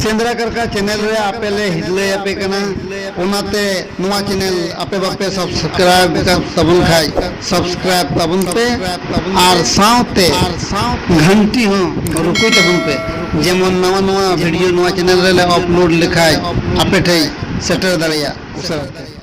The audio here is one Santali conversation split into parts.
ᱥᱮᱸᱫᱽᱨᱟ ᱠᱟᱨᱠᱟ ᱪᱮᱱᱮᱞ ᱨᱮ ᱟᱯᱮ ᱞᱮ ᱦᱤᱨᱞᱟᱹᱭ ᱟᱯᱮ ᱠᱟᱱᱟ ᱚᱱᱟᱛᱮ ᱱᱚᱣᱟ ᱪᱮᱱᱮᱞ ᱟᱯᱮ ᱵᱟᱯᱮ ᱥᱟᱵᱥᱠᱨᱟᱭᱤᱵ ᱟᱠᱟᱫ ᱛᱟᱵᱚᱱ ᱠᱷᱟᱡ ᱥᱟᱵᱥᱠᱨᱟᱭᱤᱵ ᱛᱟᱵᱚᱱ ᱯᱮ ᱟᱨ ᱥᱟᱶᱛᱮ ᱜᱷᱟᱱᱴᱤ ᱦᱚᱸ ᱨᱩᱠᱩᱭ ᱛᱟᱵᱚᱱ ᱯᱮ ᱡᱮᱢᱚᱱ ᱱᱟᱣᱟ ᱱᱟᱣᱟ ᱵᱷᱤᱰᱤᱭᱳ ᱱᱚᱣᱟ ᱪᱮᱱᱮᱞ ᱨᱮᱞᱮ ᱟᱯᱞᱳᱰ ᱞᱮᱠᱷᱟᱡ ᱟᱯᱮ ᱴᱷᱮᱡ ᱥᱮᱴᱮᱨ ᱫᱟᱲᱮᱭᱟᱜ ᱩᱥᱟᱹᱨᱟ ᱛᱮ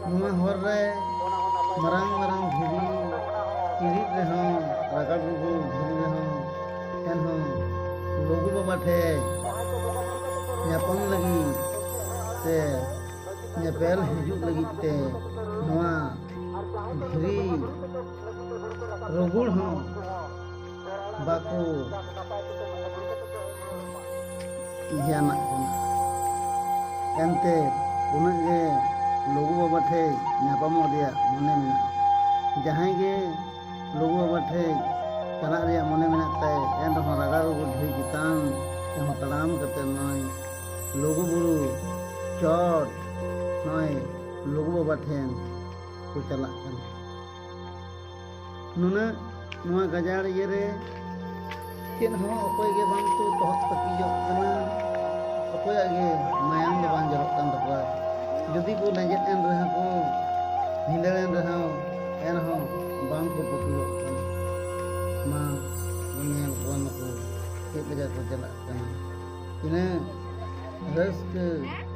ᱱᱚᱣᱟ ᱦᱚᱨ ᱨᱮ ᱢᱟᱨᱟᱝ ᱢᱟᱨᱟᱝ ᱫᱷᱤᱨᱤ ᱪᱤᱨᱤᱡ ᱨᱮᱦᱚᱸ ᱨᱟᱜᱟᱲ ᱨᱩᱜᱩ ᱫᱷᱤᱨᱤ ᱨᱮᱦᱚᱸ ᱮᱱᱦᱚᱸ ᱞᱩᱜᱩ ᱵᱟᱵᱟ ᱴᱷᱮᱡ ᱧᱟᱯᱟᱢ ᱞᱟᱹᱜᱤᱫ ᱥᱮ ᱧᱮᱯᱮᱞ ᱦᱤᱡᱩᱜ ᱞᱟᱹᱜᱤᱫ ᱛᱮ ᱱᱚᱣᱟ ᱫᱷᱤᱨᱤ ᱨᱩᱜᱩᱲ ᱦᱚᱸ ᱵᱟᱠᱚ ᱫᱷᱮᱭᱟᱱᱟᱜ ᱠᱟᱱᱟ ᱮᱱᱛᱮ ᱩᱱᱟᱹᱜ ᱜᱮ ᱞᱩᱜᱩ ᱵᱟᱵᱟ ᱴᱷᱮᱡ ᱧᱟᱯᱟᱢᱚᱜ ᱨᱮᱭᱟᱜ ᱢᱚᱱᱮ ᱢᱮᱱᱟᱜᱼᱟ ᱡᱟᱦᱟᱸᱭ ᱜᱮ ᱞᱩᱜᱩ ᱵᱟᱵᱟ ᱴᱷᱮᱡ ᱪᱟᱞᱟᱜ ᱨᱮᱭᱟᱜ ᱢᱚᱱᱮ ᱢᱮᱱᱟᱜ ᱛᱟᱭ ᱮᱱ ᱨᱮᱦᱚᱸ ᱨᱟᱜᱟ ᱨᱩᱜᱩ ᱰᱷᱤ ᱪᱮᱛᱟᱱ ᱛᱮᱦᱚᱸ ᱛᱟᱲᱟᱢ ᱠᱟᱛᱮ ᱱᱚᱜᱼᱚᱭ ᱞᱩᱜᱩ ᱵᱩᱨᱩ ᱪᱚᱴ ᱱᱚᱜᱼᱚᱭ ᱞᱩᱜᱩ ᱵᱟᱵᱟ ᱴᱷᱮᱱ ᱠᱚ ᱪᱟᱞᱟᱜ ᱠᱟᱱᱟ ᱱᱩᱱᱟᱹᱜ ᱱᱚᱣᱟ ᱜᱟᱡᱟᱲ ᱤᱭᱟᱹ ᱨᱮ ᱪᱮᱫ ᱦᱚᱸ ᱚᱠᱚᱭ ᱜᱮ ᱵᱟᱝ ᱠᱚ ᱛᱚᱦᱚᱫ ᱯᱟᱹᱠᱤᱡᱚᱜ ᱠᱟᱱᱟ ᱚᱠᱚᱭᱟᱜ ᱜᱮ ᱢᱟᱭᱟᱢ ᱫᱚ ᱵᱟᱝ ᱡᱚᱨᱚᱜ ᱠᱟᱱ ᱛᱟᱠᱚᱣᱟ ᱡᱩᱫᱤ ᱠᱚ ᱞᱮᱸᱡᱮᱫ ᱮᱱ ᱨᱮᱦᱚᱸ ᱠᱚ ᱵᱷᱤᱸᱫᱟᱹᱲ ᱮᱱ ᱨᱮᱦᱚᱸ ᱮᱱᱦᱚᱸ ᱵᱟᱝ ᱠᱚ ᱯᱟᱹᱠᱤᱡᱚᱜ ᱠᱟᱱᱟ ᱢᱟ ᱧᱮᱞ ᱠᱚᱣᱟ ᱱᱩᱠᱩ ᱪᱮᱫ ᱞᱮᱠᱟ ᱠᱚ ᱪᱟᱞᱟᱜ ᱠᱟᱱᱟ ᱛᱤᱱᱟᱹᱜ ᱨᱟᱹᱥᱠᱟᱹ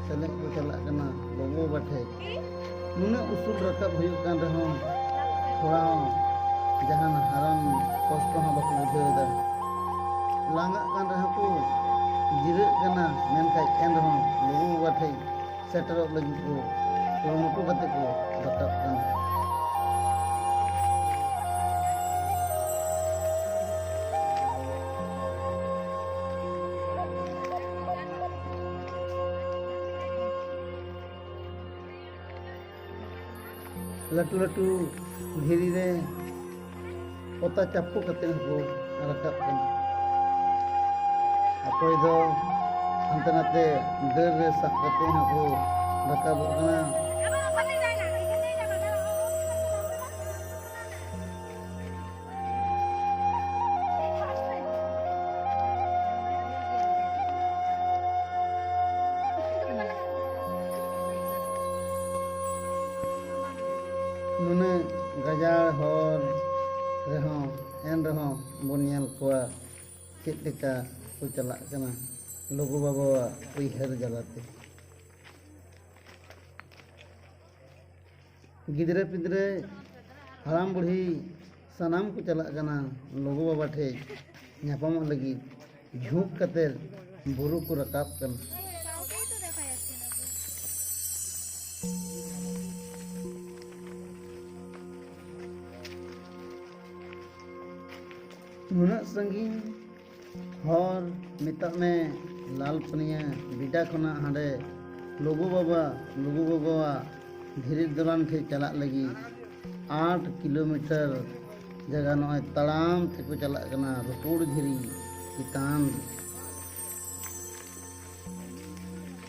ᱥᱮᱞᱮᱫ ᱠᱚ ᱪᱟᱞᱟᱜ ᱠᱟᱱᱟ ᱵᱟᱹᱵᱩ ᱵᱟᱵᱟ ᱴᱷᱮᱡ ᱱᱩᱱᱟᱹᱜ ᱩᱥᱩᱞ ᱨᱟᱠᱟᱵ ᱦᱩᱭᱩᱜ ᱠᱟᱱ ᱨᱮᱦᱚᱸ ᱛᱷᱚᱲᱟ ᱦᱚᱸ ᱡᱟᱦᱟᱱ ᱦᱟᱨᱟᱱ ᱠᱚᱥᱴᱚ ᱦᱚᱸ ᱵᱟᱠᱚ ᱵᱩᱡᱷᱟᱹᱣᱮᱫᱟ ᱞᱟᱸᱜᱟᱜ ᱠᱟᱱ ᱨᱮᱦᱚᱸ ᱠᱚ ᱡᱤᱨᱟᱹᱜ ᱠᱟᱱᱟ ᱢᱮᱱᱠᱷᱟᱡ ᱮᱱ ᱨᱮᱦᱚᱸ ᱞᱩᱜᱩ ᱵᱟᱵᱟ ᱴᱷᱮᱡ ᱥᱮᱴᱮᱨᱚᱜ ᱞᱟᱹᱜᱤᱫ ᱠᱚ ᱠᱩᱨᱩᱢᱩᱴᱩ ᱠᱟᱛᱮ ᱠᱚ ᱨᱟᱠᱟᱵ ᱠᱟᱱᱟ ᱞᱟᱹᱴᱩ ᱞᱟᱹᱴᱩ ᱫᱷᱤᱨᱤ ᱨᱮ ᱯᱚᱛᱟ ᱪᱟᱯᱚ ᱠᱟᱛᱮ ᱦᱚᱸᱠᱚ ᱨᱟᱠᱟᱵ ᱠᱟᱱᱟ ᱚᱠᱚᱭ ᱫᱚ ᱦᱟᱱᱛᱮ ᱱᱟᱛᱮ ᱰᱟᱹᱨ ᱨᱮ ᱥᱟᱵ ᱠᱟᱛᱮ ᱦᱚᱸᱠᱚ ᱨᱟᱠᱟᱵᱚᱜ ᱠᱟᱱᱟ ᱱᱩᱱᱟᱹᱜ ᱜᱟᱡᱟᱲ ᱦᱚᱨ ᱨᱮᱦᱚᱸ ᱮᱱ ᱨᱮᱦᱚᱸ ᱵᱚᱱ ᱧᱮᱞ ᱠᱚᱣᱟ ᱪᱮᱫ ᱞᱮᱠᱟ ᱠᱚ ᱪᱟᱞᱟᱜ ᱠᱟᱱᱟ ᱞᱩᱜᱩ ᱵᱟᱵᱟᱣᱟᱜ ᱩᱭᱦᱟᱹᱨ ᱡᱟᱞᱟᱛᱮ ᱜᱤᱫᱽᱨᱟᱹ ᱯᱤᱫᱽᱨᱟᱹ ᱦᱟᱲᱟᱢ ᱵᱩᱲᱦᱤ ᱥᱟᱱᱟᱢ ᱠᱚ ᱪᱟᱞᱟᱜ ᱠᱟᱱᱟ ᱞᱩᱜᱩ ᱵᱟᱵᱟ ᱴᱷᱮᱡ ᱧᱟᱯᱟᱢᱚᱜ ᱞᱟᱹᱜᱤᱫ ᱡᱷᱩᱸᱠ ᱠᱟᱛᱮ ᱵᱩᱨᱩ ᱠᱚ ᱨᱟᱠᱟᱵ ᱠᱟᱱᱟ ᱱᱩᱱᱟᱹᱜ ᱥᱟᱺᱜᱤᱧ ᱦᱚᱨ ᱢᱮᱛᱟᱜ ᱢᱮ ᱞᱟᱞ ᱯᱟᱹᱱᱤᱭᱟᱹ ᱵᱤᱰᱟ ᱠᱷᱚᱱᱟᱜ ᱦᱟᱸᱰᱮ ᱞᱩᱜᱩ ᱵᱟᱵᱟ ᱞᱩᱜᱩ ᱜᱚᱜᱚᱣᱟᱜ ᱫᱷᱤᱨᱤ ᱫᱚᱞᱟᱱ ᱴᱷᱮᱡ ᱪᱟᱞᱟᱜ ᱞᱟᱹᱜᱤᱫ ᱟᱴ ᱠᱤᱞᱳᱢᱤᱴᱟᱨ ᱡᱟᱭᱜᱟ ᱱᱚᱜᱼᱚᱭ ᱛᱟᱲᱟᱢ ᱛᱮᱠᱚ ᱪᱟᱞᱟᱜ ᱠᱟᱱᱟ ᱨᱩᱯᱩᱲ ᱫᱷᱤᱨᱤ ᱪᱮᱛᱟᱱ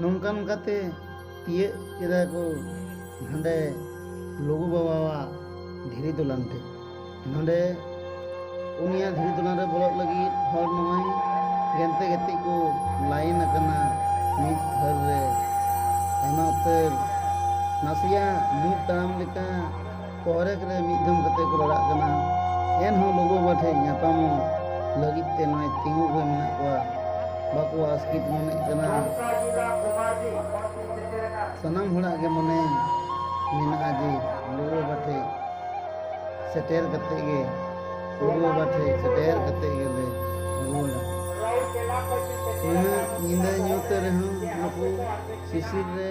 ᱱᱚᱝᱠᱟ ᱱᱚᱝᱠᱟᱛᱮ ᱛᱤᱭᱟᱹᱜ ᱠᱮᱫᱟ ᱠᱚ ᱱᱚᱰᱮ ᱞᱩᱜᱩ ᱵᱟᱵᱟᱣᱟᱜ ᱫᱷᱤᱨᱤ ᱫᱚᱞᱟᱱ ᱛᱮ ᱱᱚᱰᱮ ᱩᱱᱤᱭᱟᱜ ᱫᱷᱤᱨᱤ ᱫᱚᱞᱟᱱ ᱨᱮ ᱵᱚᱞᱚᱜ ᱞᱟᱹᱜᱤᱫ ᱦᱚᱲ ᱱᱚᱜᱼᱚᱭ ᱜᱮᱱᱛᱮ ᱜᱮᱛᱮ ᱠᱚ ᱞᱟᱭᱤᱱ ᱟᱠᱟᱱᱟ ᱢᱤᱫ ᱫᱷᱟᱹᱨ ᱨᱮ ᱟᱭᱢᱟ ᱩᱛᱟᱹᱨ ᱱᱟᱥᱮᱭᱟᱜ ᱢᱤᱫ ᱛᱟᱲᱟᱢ ᱞᱮᱠᱟ ᱠᱚᱨᱮᱠ ᱨᱮ ᱢᱤᱫ ᱫᱷᱚᱢ ᱠᱟᱛᱮ ᱠᱚ ᱨᱚᱲᱟᱜ ᱠᱟᱱᱟ ᱮᱱᱦᱚᱸ ᱞᱩᱜᱩ ᱵᱟᱵᱟ ᱴᱷᱮᱱ ᱧᱟᱯᱟᱢᱚᱜ ᱞᱟᱹᱜᱤᱫ ᱛᱮ ᱱᱚᱜᱼᱚᱭ ᱛᱤᱸᱜᱩ ᱜᱮ ᱢᱮᱱᱟᱜ ᱠᱚᱣᱟ ᱵᱟᱠᱚ ᱟᱥᱠᱤᱛ ᱢᱚᱱᱮᱜ ᱠᱟᱱᱟ ᱥᱟᱱᱟᱢ ᱦᱚᱲᱟᱜ ᱜᱮ ᱢᱚᱱᱮ ᱢᱮᱱᱟᱜᱼᱟ ᱡᱮ ᱞᱩᱜᱩ ᱵᱟᱵᱟ ᱴᱷᱮᱱ ᱥᱮᱴᱮᱨ ᱠᱟᱛᱮ ᱜᱮ ᱞᱩᱜᱩ ᱵᱟᱵᱟ ᱴᱷᱮᱱ ᱥᱮᱴᱮᱨ ᱠᱟᱛᱮ ᱜᱮᱞᱮ ᱨᱩᱣᱟᱹᱲᱟ ᱩᱱᱟᱹᱜ ᱧᱤᱫᱟᱹ ᱧᱩᱛ ᱨᱮᱦᱚᱸ ᱱᱩᱠᱩ ᱥᱤᱥᱤᱨ ᱨᱮ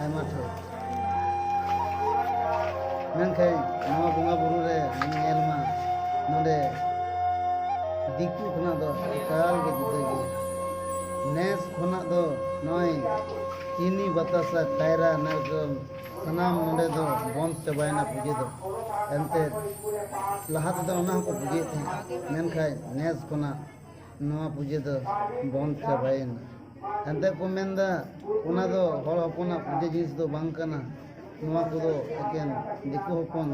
ᱟᱭᱢᱟ ᱪᱷᱚᱴ ᱢᱮᱱᱠᱷᱟᱱ ᱱᱚᱣᱟ ᱵᱚᱸᱜᱟ ᱵᱩᱨᱩ ᱨᱮ ᱧᱮᱞ ᱢᱟ ᱱᱚᱰᱮ ᱫᱤᱠᱩ ᱠᱷᱚᱱᱟᱜ ᱫᱚ ᱮᱠᱟᱞ ᱜᱮ ᱡᱩᱫᱟᱹ ᱜᱮᱭᱟ ᱱᱮᱥ ᱠᱷᱚᱱᱟᱜ ᱫᱚ ᱱᱚᱜᱼᱚᱭ ᱪᱤᱱᱤ ᱵᱟᱛᱟᱥᱟ ᱠᱟᱭᱨᱟ ᱱᱟᱨᱠᱚᱞ ᱥᱟᱱᱟᱢ ᱱᱚᱰᱮ ᱫᱚ ᱵᱚᱱᱫ ᱪᱟᱵᱟᱭᱮᱱᱟ ᱯᱩᱡᱟᱹ ᱫᱚ ᱮᱱᱛᱮᱫ ᱞᱟᱦᱟ ᱛᱮᱫᱚ ᱚᱱᱟ ᱦᱚᱸᱠᱚ ᱯᱩᱡᱟᱹᱭᱮᱫ ᱛᱟᱦᱮᱸᱫ ᱢᱮᱱᱠᱷᱟᱱ ᱱᱮᱥ ᱠᱷᱚᱱᱟᱜ ᱱᱚᱣᱟ ᱯᱩᱡᱟᱹ ᱫᱚ ᱵᱚᱱᱫᱽ ᱪᱟᱵᱟᱭᱮᱱᱟ ᱮᱱᱛᱮᱫ ᱠᱚ ᱢᱮᱱ ᱮᱫᱟ ᱚᱱᱟ ᱫᱚ ᱦᱚᱲ ᱦᱚᱯᱚᱱᱟᱜ ᱯᱩᱡᱟᱹ ᱡᱤᱱᱤᱥ ᱫᱚ ᱵᱟᱝ ᱠᱟᱱᱟ ᱱᱚᱣᱟ ᱠᱚᱫᱚ ᱮᱠᱮᱱ ᱫᱤᱠᱩ ᱦᱚᱯᱚᱱ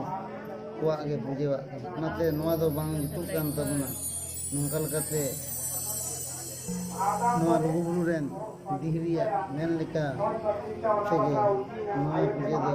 ᱠᱚᱣᱟᱜ ᱜᱮ ᱯᱩᱡᱟᱹᱣᱟᱜ ᱠᱟᱱᱟ ᱚᱱᱟᱛᱮ ᱱᱚᱣᱟ ᱫᱚ ᱵᱟᱝ ᱡᱩᱛᱩᱜ ᱠᱟᱱ ᱛᱟᱵᱚᱱᱟ ᱱᱚᱝᱠᱟ ᱞᱮᱠᱟᱛᱮ ᱱᱚᱣᱟ ᱞᱩᱜᱩᱵᱩᱨᱩ ᱨᱮᱱ ᱫᱤᱦᱨᱤᱭᱟ ᱢᱮᱱ ᱞᱮᱠᱟ ᱛᱮᱜᱮ ᱱᱚᱣᱟ ᱯᱩᱡᱟᱹ ᱫᱚ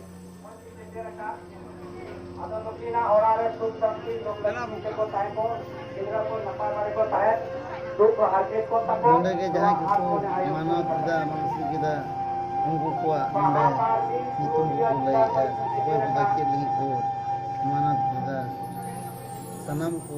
ᱱᱚᱰᱮ ᱜᱮ ᱡᱟᱦᱟᱸᱭ ᱠᱚᱠᱚ ᱢᱟᱱᱚᱛ ᱮᱫᱟ ᱢᱟᱱᱥᱤᱠ ᱮᱫᱟ ᱩᱱᱠᱩ ᱠᱚᱣᱟᱜ ᱱᱚᱰᱮ ᱧᱩᱛᱩᱢ ᱠᱚᱠᱚ ᱞᱟᱹᱭᱮᱫᱼᱟ ᱚᱠᱚᱭ ᱠᱚᱫᱚ ᱪᱮᱫ ᱞᱟᱹᱜᱤᱫ ᱠᱚ ᱢᱟᱱᱚᱛ ᱮᱫᱟ ᱥᱟᱱᱟᱢ ᱠᱚ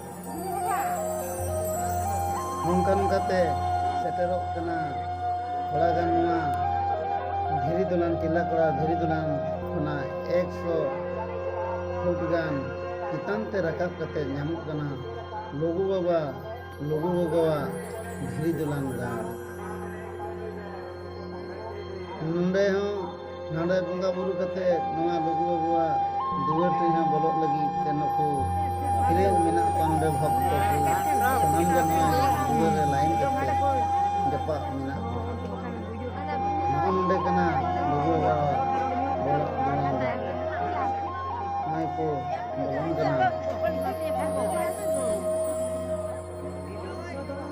ᱱᱚᱝᱠᱟ ᱱᱚᱝᱠᱟᱛᱮ ᱥᱮᱴᱮᱨᱚᱜ ᱠᱟᱱᱟ ᱛᱷᱚᱲᱟ ᱜᱟᱱ ᱱᱚᱣᱟ ᱫᱷᱤᱨᱤ ᱫᱚᱞᱟᱱ ᱠᱮᱞᱟ ᱠᱚᱲᱟ ᱫᱷᱤᱨᱤ ᱫᱚᱞᱟᱱ ᱠᱷᱚᱱᱟᱜ ᱮᱠᱥᱚ ᱯᱷᱩᱴ ᱜᱟᱱ ᱪᱮᱛᱟᱱ ᱛᱮ ᱨᱟᱠᱟᱵ ᱠᱟᱛᱮ ᱧᱟᱢᱚᱜ ᱠᱟᱱᱟ ᱞᱩᱜᱩ ᱵᱟᱵᱟ ᱞᱩᱜᱩ ᱜᱚᱜᱚᱣᱟᱜ ᱫᱷᱤᱨᱤ ᱫᱚᱞᱟᱱ ᱜᱟᱲ ᱱᱚᱰᱮ ᱦᱚᱸ ᱱᱚᱰᱮ ᱵᱚᱸᱜᱟ ᱵᱩᱨᱩ ᱠᱟᱛᱮ ᱱᱚᱣᱟ ᱞᱩᱜᱩ ᱵᱟᱵᱩᱣᱟᱜ ᱫᱩᱣᱟᱹᱨ ᱴᱷᱮᱱ ᱦᱚᱸ ᱵᱚᱞᱚᱜ ᱞᱟᱹᱜᱤᱫ ᱛᱮ ᱱᱩᱠᱩ ᱠᱷᱤᱨᱮ ᱢᱮᱱᱟᱜ ᱠᱚᱣᱟ ᱱᱚᱰᱮ ᱵᱷᱚᱠᱛᱚ ᱠᱚ ᱥᱟᱱᱟᱢ ᱜᱮ ᱱᱚᱣᱟ ᱫᱩᱣᱟᱹᱨ ᱨᱮ ᱞᱟᱭᱤᱱ ᱠᱟᱛᱮ ᱡᱟᱯᱟᱜ ᱢᱮᱱᱟᱜ ᱠᱚᱣᱟ ᱱᱚᱜᱼᱚ ᱱᱚᱰᱮ ᱠᱟᱱᱟ ᱞᱩᱜᱩ ᱵᱟᱵᱟᱣᱟᱜ ᱵᱚᱞᱚᱜ ᱫᱩᱣᱟᱹᱨ ᱱᱚᱜᱼᱚᱭ ᱠᱚ ᱵᱚᱞᱚᱱ ᱠᱟᱱᱟ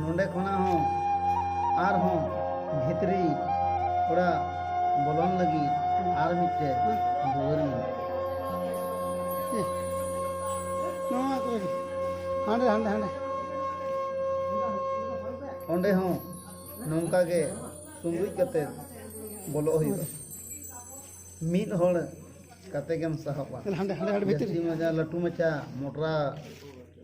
ᱱᱚᱰᱮ ᱠᱷᱚᱱᱟᱜ ᱦᱚᱸ ᱟᱨᱦᱚᱸ ᱵᱷᱤᱛᱨᱤ ᱚᱲᱟᱜ ᱵᱚᱞᱚᱱ ᱞᱟᱹᱜᱤᱫ ᱟᱨ ᱢᱤᱫᱴᱮᱡ ᱫᱩᱣᱟᱹᱨ ᱢᱮᱱᱟᱜᱼᱟ ᱱᱚᱣᱟ ᱠᱚᱨᱮ ᱜᱮ ᱦᱟᱸᱰᱮ ᱦᱟᱸᱰᱮ ᱦᱟᱸᱰᱮ ᱚᱸᱰᱮ ᱦᱚᱸ ᱱᱚᱝᱠᱟ ᱜᱮ ᱥᱩᱸᱜᱩᱡ ᱠᱟᱛᱮ ᱵᱚᱞᱚᱜ ᱦᱩᱭᱩᱜᱼᱟ ᱢᱤᱫ ᱦᱚᱲ ᱠᱟᱛᱮ ᱜᱮᱢ ᱥᱟᱦᱚᱵᱼᱟ ᱦᱟᱸᱰᱮ ᱦᱟᱸᱰᱮ ᱦᱟᱸᱰᱮ ᱵᱷᱤᱛᱨᱤ ᱡᱟᱹᱥᱛᱤ ᱢᱟᱪᱟ ᱞᱟᱹᱴᱩ ᱢᱟᱪᱟ ᱢᱚᱴᱨᱟ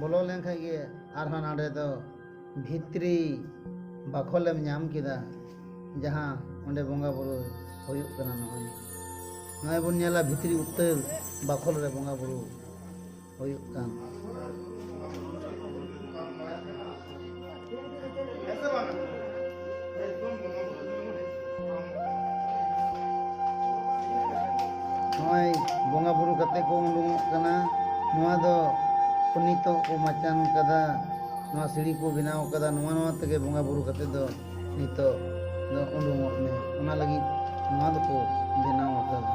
ᱵᱚᱞᱚ ᱞᱮᱱ ᱠᱷᱟᱱ ᱜᱮ ᱟᱨᱦᱚᱸ ᱱᱚᱰᱮ ᱫᱚ ᱵᱷᱤᱛᱨᱤ ᱵᱟᱠᱷᱳᱞᱮᱢ ᱧᱟᱢ ᱠᱮᱫᱟ ᱡᱟᱦᱟᱸ ᱚᱸᱰᱮ ᱵᱚᱸᱜᱟ ᱵᱩᱨᱩ ᱦᱩᱭᱩᱜ ᱠᱟᱱᱟ ᱱᱚᱜᱼᱚᱭ ᱱᱚᱜᱼᱚᱭ ᱵᱚᱱ ᱧᱮᱞᱟ ᱵᱷᱤᱛᱨᱤ ᱩᱛᱟᱹᱨ ᱵᱟᱠᱷᱳᱞ ᱨᱮ ᱵᱚᱸᱜᱟ ᱵᱩᱨᱩ ᱦᱩᱭᱩᱜ ᱠᱟᱱ ᱱᱚᱜᱼᱚᱭ ᱵᱚᱸᱜᱟ ᱵᱩᱨᱩ ᱠᱟᱛᱮ ᱠᱚ ᱩᱰᱩᱝᱚᱜ ᱠᱟᱱᱟ ᱱᱚᱣᱟ ᱫᱚ ᱱᱤᱛᱚᱜ ᱠᱚ ᱢᱟᱪᱟᱱ ᱠᱟᱫᱟ ᱱᱚᱣᱟ ᱥᱤᱲᱤ ᱠᱚ ᱵᱮᱱᱟᱣ ᱠᱟᱫᱟ ᱱᱚᱣᱟ ᱱᱚᱣᱟ ᱛᱮᱜᱮ ᱵᱚᱸᱜᱟ ᱵᱩᱨᱩ ᱠᱟᱛᱮ ᱫᱚ ᱱᱤᱛᱚᱜ ᱫᱚ ᱩᱰᱩᱝᱚᱜ ᱢᱮ ᱚᱱᱟ ᱞᱟᱹᱜᱤᱫ ᱱᱚᱣᱟ ᱫᱚᱠᱚ ᱵᱮᱱᱟᱣ ᱟᱠᱟᱫᱟ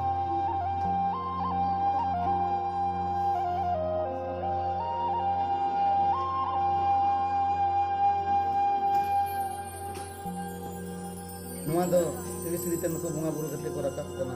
ᱱᱚᱣᱟ ᱫᱚ ᱥᱤᱲᱤ ᱥᱤᱲᱤᱛᱮ ᱱᱩᱠᱩ ᱵᱚᱸᱜᱟ ᱵᱩᱨᱩ ᱠᱟᱛᱮ ᱠᱚ ᱨᱟᱠᱟᱵ ᱠᱟᱱᱟ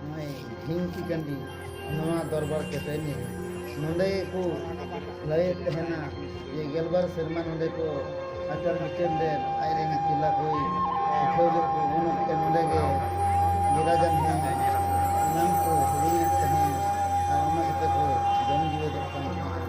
ᱱᱚᱜᱼᱚᱭ ᱰᱷᱤᱝᱠᱤ ᱠᱟᱹᱱᱰᱤ ᱱᱚᱣᱟ ᱫᱚᱨᱵᱟᱨ ᱠᱮᱛᱮᱱᱤ ᱱᱚᱰᱮ ᱠᱚ ᱞᱟᱹᱭᱮᱫ ᱛᱟᱦᱮᱱᱟ ᱡᱮ ᱜᱮᱞᱵᱟᱨ ᱥᱮᱨᱢᱟ ᱱᱚᱰᱮ ᱠᱚ ᱟᱪᱟᱨ ᱵᱤᱪᱟᱹᱨ ᱞᱮᱫ ᱟᱡ ᱨᱮᱱ ᱛᱤᱞᱟ ᱠᱚᱭ ᱥᱤᱠᱷᱟᱹᱣ ᱞᱮᱫ ᱠᱚ ᱩᱱ ᱚᱠᱛᱮ ᱱᱚᱰᱮ ᱜᱮ ᱵᱤᱨᱟᱡᱟᱱ ᱦᱮᱸ ᱥᱟᱱᱟᱢ ᱠᱚ ᱦᱤᱲᱤᱧᱮᱫ ᱛᱟᱦᱮᱸ ᱟᱨ ᱚᱱᱟ ᱠᱟᱛᱮ ᱠᱚ ᱡᱚᱢ ᱡᱤᱣᱮᱫᱚᱜ ᱠᱟᱱ ᱛᱟᱦᱮᱸ